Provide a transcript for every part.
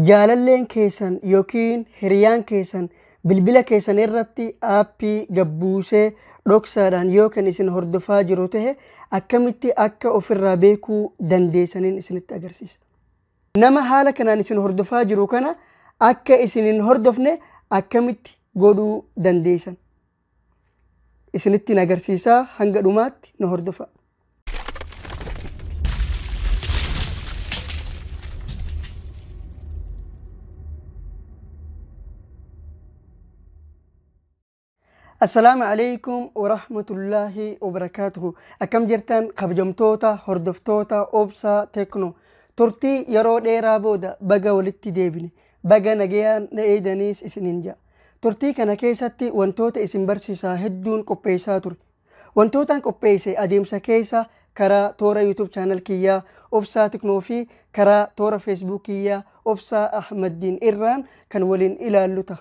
Jaalalleen keessan yookiin hiriyaan keessan bilbila keessan irratti aappii gad buusee dhoksaadhaan yoo kan isin hordofaa jiru ta'e akkamitti akka ofirraa beekuu dandeessaniin isinitti agarsiisa. Nama haala kanaan isin hordofaa jiru kana akka isin hin hordofne akkamitti godhuu dandeessan? isinittiin agarsiisaa hanga dhumaatti nu hordofaa. Assalaamu alaikum wa rahmatullaahi wa barakaatuhu. Akkam jirtan kabajamtoota hordoftoota obsaa tekno turtii yeroo dheeraa booda baga walitti deebine baga nagayaan na eeydaniis isinin jedha. Turtii kana keessatti wantoota isin barsiisaa hedduun qopheessaa ture. Wantootaan qopheesse adeemsa keessa karaa toora YouTube channel kiyyaa Obsaa Tiknoo fi karaa toora Facebook kiyyaa Obsaa Ahmaddiin irraan kan waliin ilaallu ta'a.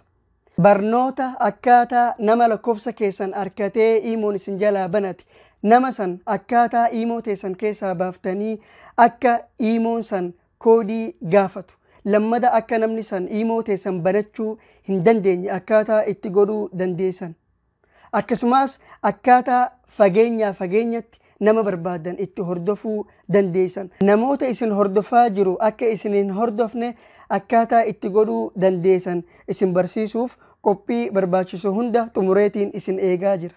Barnoota akkaataa nama lakkoofsa keessan arkatee iimoon isin jalaa banate nama san akkaataa iimoo teessan keessaa baaftanii akka iimoon san koodii gaafatu. Lammada akka namni san iimoo teessan banachuu hin dandeenye akkaataa itti godhuu dandeessan. Akkasumaas akkaataa fageenyaa fageenyatti nama barbaadan itti hordofuu dandeessan. Namoota isin hordofaa jiru akka isin hin hordofne akkaataa itti godhuu dandeessan isin barsiisuuf qophii barbaachisu hunda xumureetiin isin eegaa jira.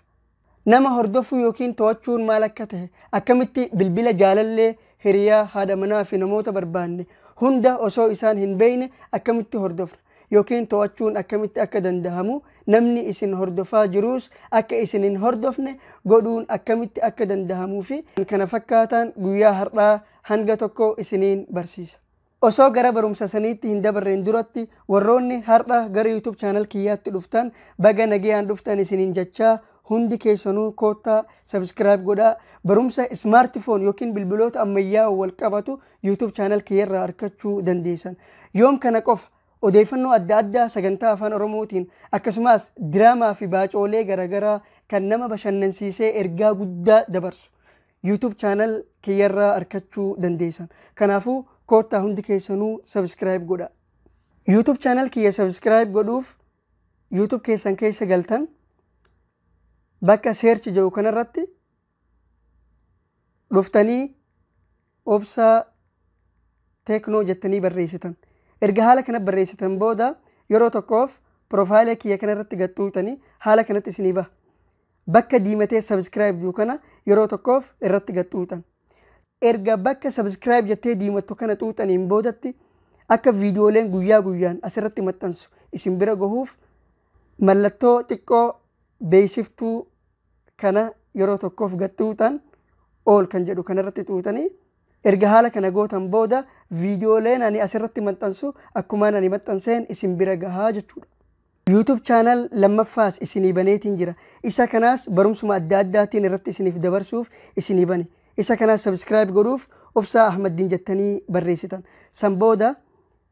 Nama hordofuu ykn to'achuun maal akka tahe, akkamitti bilbila jaalallee, hiriyaa, haadha manaa fi namoota barbaanne hunda osoo isaan hin beeyne akkamitti hordofna ykn to'achuun akkamitti akka dandahamu, namni isin hordofaa jiruus akka isin hin hordofne godhuun akkamitti akka dandahamuu fi kkf guyyaa har'aa hanga tokko isiniin barsiisa. Osoo gara barumsa saniitti hin dabarreen duratti warroonni har'a gara youtube channel kiyyaatti dhuftan baga nagayaan dhuftan isiniin jachaa hundi keessanuu koottaa subscribe godhaa barumsa smart phone yookiin bilbiloota ammayyaa'oo wal qabatu youtube channel kiyyarraa arkachuu dandeessan yoom kana qofa odeeffannoo adda addaa sagantaa afaan oromootiin akkasumas diraamaa fi baacoolee garagaraa kan nama bashannansiisee ergaa guddaa dabarsu YouTube channel kiyyarraa arkachuu dandeessan. Kanaafuu koottaa hundi keessanuu subscribe godha. YouTube channel kiyya subscribe godhuuf YouTube keessan keessa galtan bakka search jedhu kanarratti dhuftanii obsaa teeknoo jettanii barreessitan. Erga haala kana barreessitan booda yeroo tokkoof piroofaayila kiyya kanarratti gattuutanii haala kanatti isinii baha. Bakka diimatee subscribe jiru kana yeroo tokkoof irratti gad xuuxan. Erga bakka subscribe jettee diimattu kana xuuxaniin boodatti akka viidiyooleen guyyaa guyyaan asirratti maxxansu isin bira gahuuf mallattoo xiqqoo beeksiftuu kana yeroo tokkoof gad xuuxan ool kan jedhu kanarratti xuuxanii erga haala kana gootan booda viidiyooleen ani asirratti maxxansu akkumaan ani maxxanseen isin bira gahaa jechuudha. YouTube channel lammaffaas isinii baneetiin jira. Isa kanaas barumsuma adda addaatiin irratti isiniif dabarsuuf isinii bane. Isa kanaas subscribe godhuuf Obsaa Ahmaddin jettanii barreessitan. San booda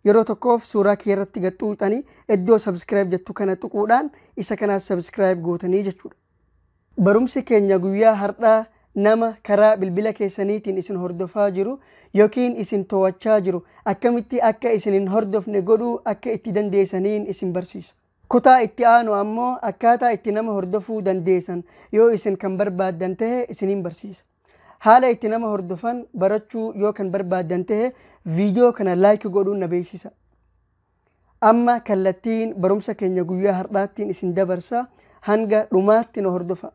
yeroo tokkoof suuraa kiyya irratti gad xuuxanii iddoo subscribe jettu kana tuquudhaan isa kanaas subscribe gootanii jechuudha. Barumsi keenya guyyaa hardhaa nama karaa bilbila keessaniitiin isin hordofaa jiru yookiin isin too'achaa jiru akkamitti akka isin hin hordofne godhuu akka itti dandeesaniin isin barsiisa. Kutaa itti aanu ammoo akkaataa itti nama hordofuu dandeesan yoo isin kan barbaaddan tahe isiniin barsiisa. Haala itti nama hordofan barachuu yoo kan barbaaddan tahe viidiyoo kana like godhuun na beeksisa. Amma kallattiin barumsa keenya guyyaa har'aattiin isin dabarsa hanga dhumaatti na hordofa.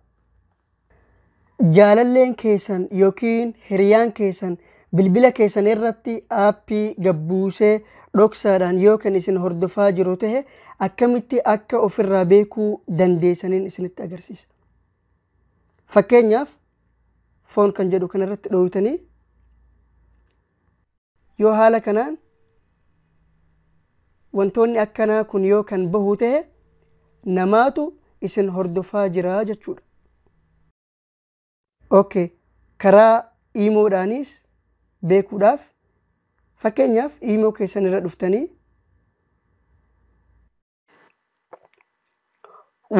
Jaalalleen keessan yookiin hiriyaan keessan bilbila keessan irratti aappii gabbuusee dhoksaadhaan yoo kan isin hordofaa jiru ta'e akkamitti akka ofirraa beekuu dandeessaniin isinitti agarsiisa. Fakkeenyaaf foon kan jedhu kanarratti dhooytanii Yoo haala kanaan wantoonni akkanaa kun yoo kan bahu ta'e namaatu isin hordofaa jira jechuudha. Okay. Karaa iimoodhaanis beekuudhaaf fakkeenyaaf iimoo keessan irra dhuftanii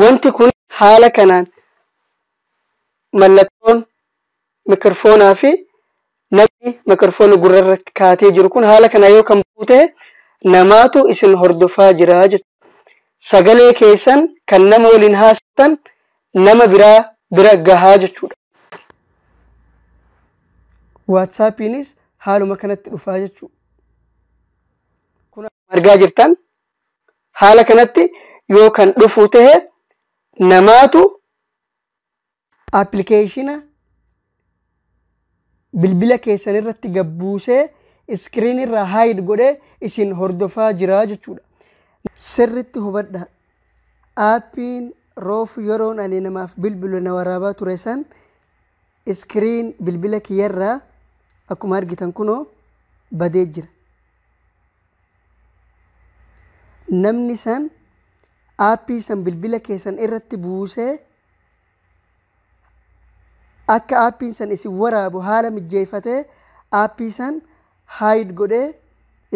Wanti kun haala kanaan mallattoon mikirfoonaa fi namni mikirfoona gurra irratti kaatee jiru kun haala kanaa yoo kan bu'u ta'e namaatu isin hordofaa jira jechuudha. Sagalee keessan kan nama waliin haasoftan nama biraa bira gahaa jechuudha. Waatsaappiinis haaluma kanatti dhufaa jechuudha. Kun argaa jirtan haala kanatti yoo kan dhufuu tahe namaatu appilikeeshina bilbila keessan irratti gabbuusee iskiriin irraa haayid godhee isin hordofaa jira jechuudha. Sirritti hubadha. Aappiin roof yeroon ani namaaf bilbilu na waraabaa ture san Screen bilbila kiyyarraa akkuma argitan kunoo badee jira. Namni san aappii san bilbila keessan irratti buusee akka aappiin san isin waraabu haala mijjeeffatee aappii san haayid godhee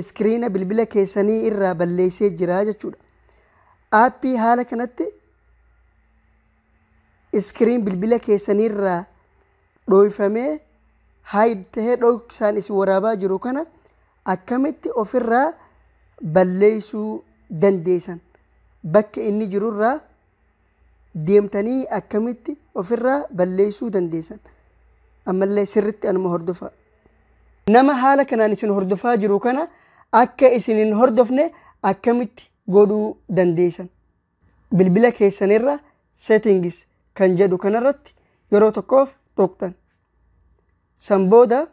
iskiriina bilbila keessanii irraa balleessee jira jechuudha. Aappii haala kanatti screen bilbila keessaniirraa dhooyfamee hide tahee dhooksaan isin waraabaa jiru kana akkamitti ofirraa balleeysuu dandeeysan bakka inni jirurraa deemtanii akkamitti ofirraa balleeysuu dandeeysan ammallee sirritti anuma hordofaa nama haala kanaan isin hordofaa jiru kana akka isin hin hordofne akkamitti godhuu dandeeysan Bilbila keessan irra Settings kan jedhu kana irratti yeroo tokkoof tuqxan. San booda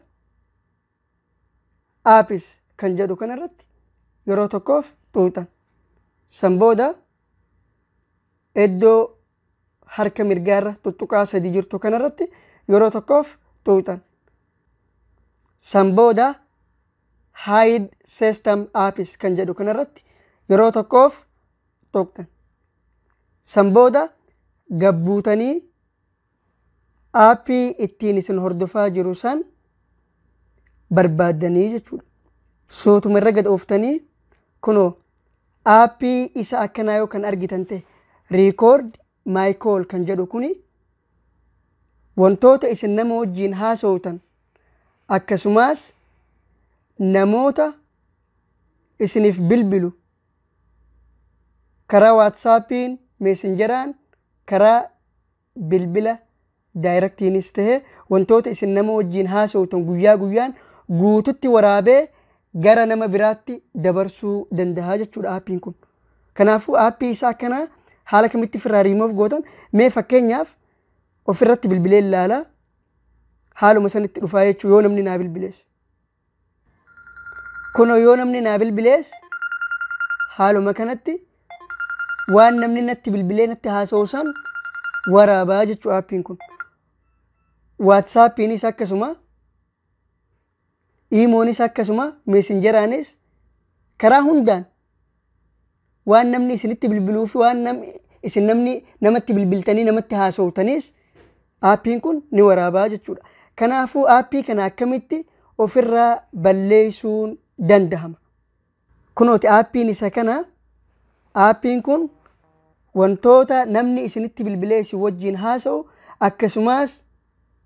Apps kan jedhu kana irratti yeroo tokkoof tuqxan. San booda iddoo harka mirgaa irra tuttuqaa sadii jirtu kana irratti yeroo tokkoof tuqxan. San booda Hide System Apps kan jedhu kana irratti yeroo tokkoof xoqxan. San booda gabbuutanii aappii ittiin isin hordofaa jiru san barbaaddanii jechuudha. Sootuma irra gad ooftanii kunoo aappii isa akkanaa yoo kan argitan ta'e record my call kan jedhu kuni wantoota isin nama wajjiin haasawtan akkasumas namoota isiniif bilbilu Karaa Waatsaappiin, Meesenjaraan, karaa bilbila daayiraktiinis ta'ee wantoota isin nama wajjin haasawtan guyyaa guyyaan guututti waraabee gara nama biraatti dabarsuu danda'a jechuudha aappiin kun. Kanaafuu aappii isaa kana haala kamitti ofirraa riimoof gootan mee fakkeenyaaf ofirratti bilbilee ilaala haaluma sanitti dhufaa jechuu yoo namni naa bilbilees. Kunoo yoo namni naa bilbilees haaluma kanatti waan namni natti bilbilee natti haasa'u san waraabaa jechuu aappiin kun. Waatsaappiinis akkasuma iimoonis akkasuma meesinjeraanis karaa hundaan waan namni isinitti bilbiluu fi waan nam- isin namni namatti bilbiltanii namatti haasoftanis aappiin kun ni waraabaa jechuudha. Kanaafuu aappii kana akkamitti ofirraa balleessuun danda'ama. Kunooti aappiin isa kana aappiin kun wantoota namni isinitti bilbilee isin wajjin haasa'u akkasumas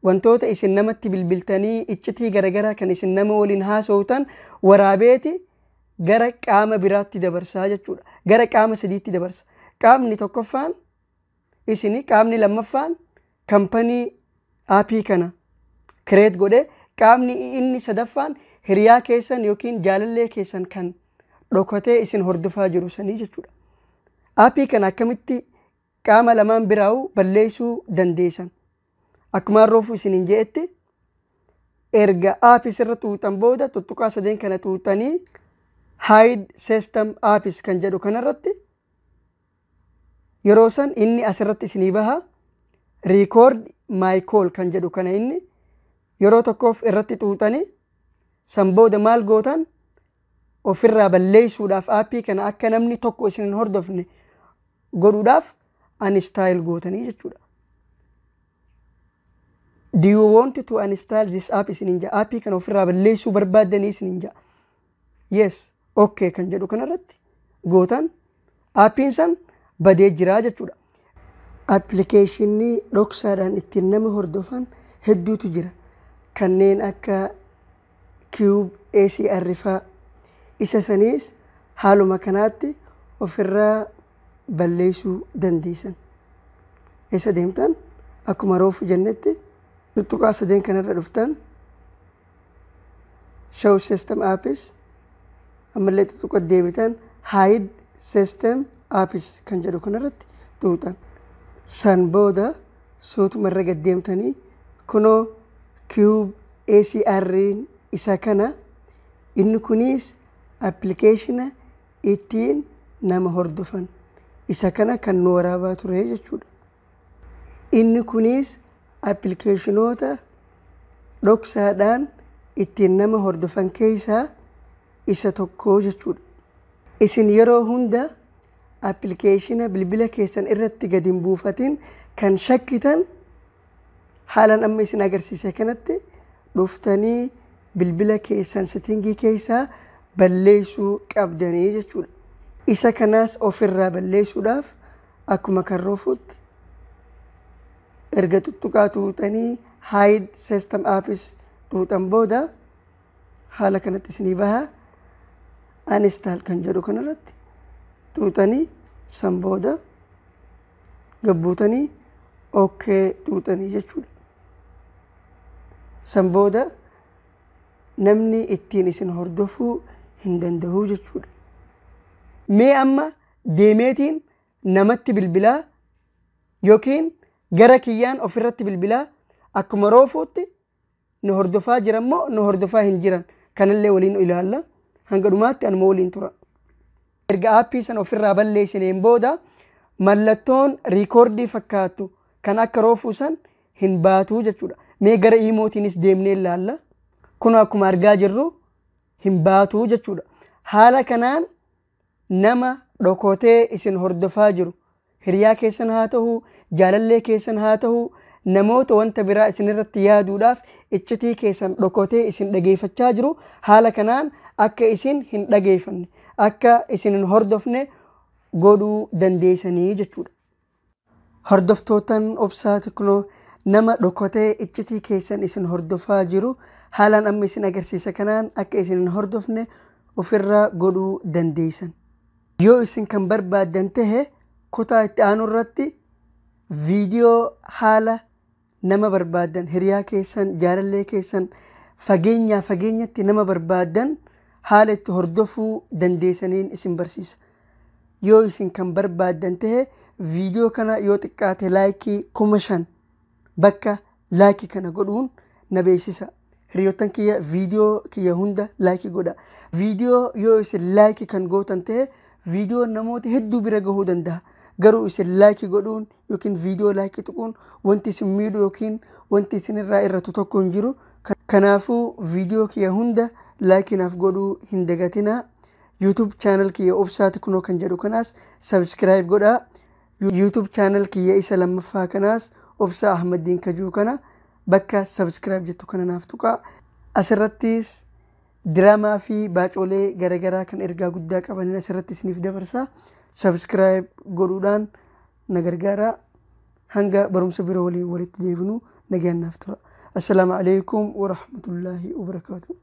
wantoota isin namatti bilbiltanii iccitii garagaraa kan isin nama waliin haasoftan waraabeeti gara qaama biraatti dabarsaa jechuudha. Gara qaama sadiitti dabarsa. Qaamni tokkoffaan isin qaamni lammaffaan kampanii aapii kana kireet godhe qaamni inni sadaffaan hiriyaa keessan yookiin jaalallee keessan kan dhokatee isin hordofaa jiru sanii jechuudha. Aapii kana akkamitti qaama lamaan biraa'u balleessuu dandeessan. Akkumaan roofuu isiniin je'etti erga aapis irra tuuxan booda tuttuqaa sadeen kana tuuxanii hide system aapis kan jedhu kanarratti yeroo san inni asirratti isinii baha record my call kan jedhu kana inni yeroo tokkoof irratti tuuxanii san booda maal gootan ofirraa balleessuudhaaf aappii kana akka namni tokko isin hin hordofne godhuudhaaf uninstall gootanii jechuudha. Do you want to uninstall this app isinin ja'a aappii kana ofirraa balleessuu barbaaddanii isinin ja'a. Yes, okay kan jedhu kanarratti gootan Aappiin san badee jira jechuudha. Appilikeeshinni dhoksaadhaan ittiin nama hordofan hedduutu jira. Kanneen akka Cube ACR faa. Isa saniis haaluma kanaatti ofirraa balleessuu dandeessan. Eessa deemtan? Akkuma roofu jennetti tuqaa sadeen kanarra dhuftan. show system apps ammallee xuxuqa deebitan hide system apps kan jedhu kanarratti tuutan san booda suutuma irra gad deemtanii kunoo cube ACR isa kana inni kunis appilikeeshina ittiin nama hordofan isa kana kan nu waraabaa ture jechuudha. Inni kunis appilikeeshinoota dhoksaadhaan ittiin nama hordofan keessaa isa tokko jechuudha. Isin yeroo hunda appilikeeshina bilbila keessan irratti gad hin buufatin kan shakkitan haalan amma isin agarsiise kanatti dhuftanii bilbila keessan setingii keessaa balleessuu qabdanii jechuudha. Isa kanaas ofirraa balleessuudhaaf Akkuma kan ruufuutti erga tuttuqaa tuutanii hide system apps tuutan booda haala kanatti isinii baha uninstall kan jedhu kanarratti tuutanii san booda gabbuutanii ok tuutanii jechuudha. San booda namni ittiin isin hordofuu hin danda'u jechuudha. Mee amma deemeetiin namatti bilbilaa yookiin gara kiyyaan ofirratti bilbilaa akkuma roofuutti na hordofaa jiran moo na hordofaa hin jiran kanallee waliin ilaalla hanga dhumaatti anuma waliin tura. Erga aappii sana ofirraa balleessineen booda mallattoon riikoordii fakkaatu kan akka roofuu san hin baatuu jechuudha. Mee gara iimootiinis deemnee ilaalla. Kun akkuma argaa jirru hin baatuu jechuudha. Haala kanaan Nama dhokotee isin hordofaa jiru, hiriyaa keessan haa tahu, jaalallee keessan haa tahu, namoota wanta biraa isin irratti yaaduudhaaf iccitii keessan dhokotee isin dhageeyfachaa jiru, haala kanaan akka isin hin dhageeyfanne, akka isin hin hordofne godhuu dandeeysanii jechuudha. Hordoftootan Obsaa Tiknoo nama dhokotee iccitii keessan isin hordofaa jiru haalaan amma isin agarsiisa kanaan akka isin hin hordofne ofirraa godhuu dandeessan. Yoo isin kan barbaaddan tahe kutaa itti aanu irratti viidiyoo haala nama barbaaddan, hiriyaa keessan, jaalallee keessan, fageenyaa fageenyatti nama barbaaddan haala itti hordofuu dandeessaniin isin barsiisa. Yoo isin kan barbaaddan ta'e viidiyoo kana yoo xiqqaate laayikii kuma shan bakka laayikii kana godhuun na beeksisa. Hiriyoottan kiyya viidiyoo kiyya hunda laayikii godha. Viidiyoo yoo isin laayikii kan gootan ta'e viidiyoon namoota hedduu bira gahuu danda'a. Garuu isin laayikii godhuun yookiin viidiyoo laayikii tuquun wanti isin miidhu yookiin wanti isin irraa irratu tokko hin jiru. Kanaafuu viidiyoo kiyya hunda laayikii naaf godhuu hin dagatinaa. YouTube channel kiyya obsaati kunoo kan jedhu kanaas subscribe godhaa. YouTube channel kiyya isa lammaffaa kanaas obsaa Ahmaddiin kajuu kana bakka subscribe jettu kana naaf tuqaa. Asirrattis diraamaa fi baacoolee garagaraa kan ergaa guddaa qabanin asirratti isiniif dabarsa. Subscribe godhuudhaan na gargaara. Hanga barumsa biroo waliin walitti deebinu nagaan naaf tura. Assalaamu alaikum warahmatullaahi wabarakaatuh.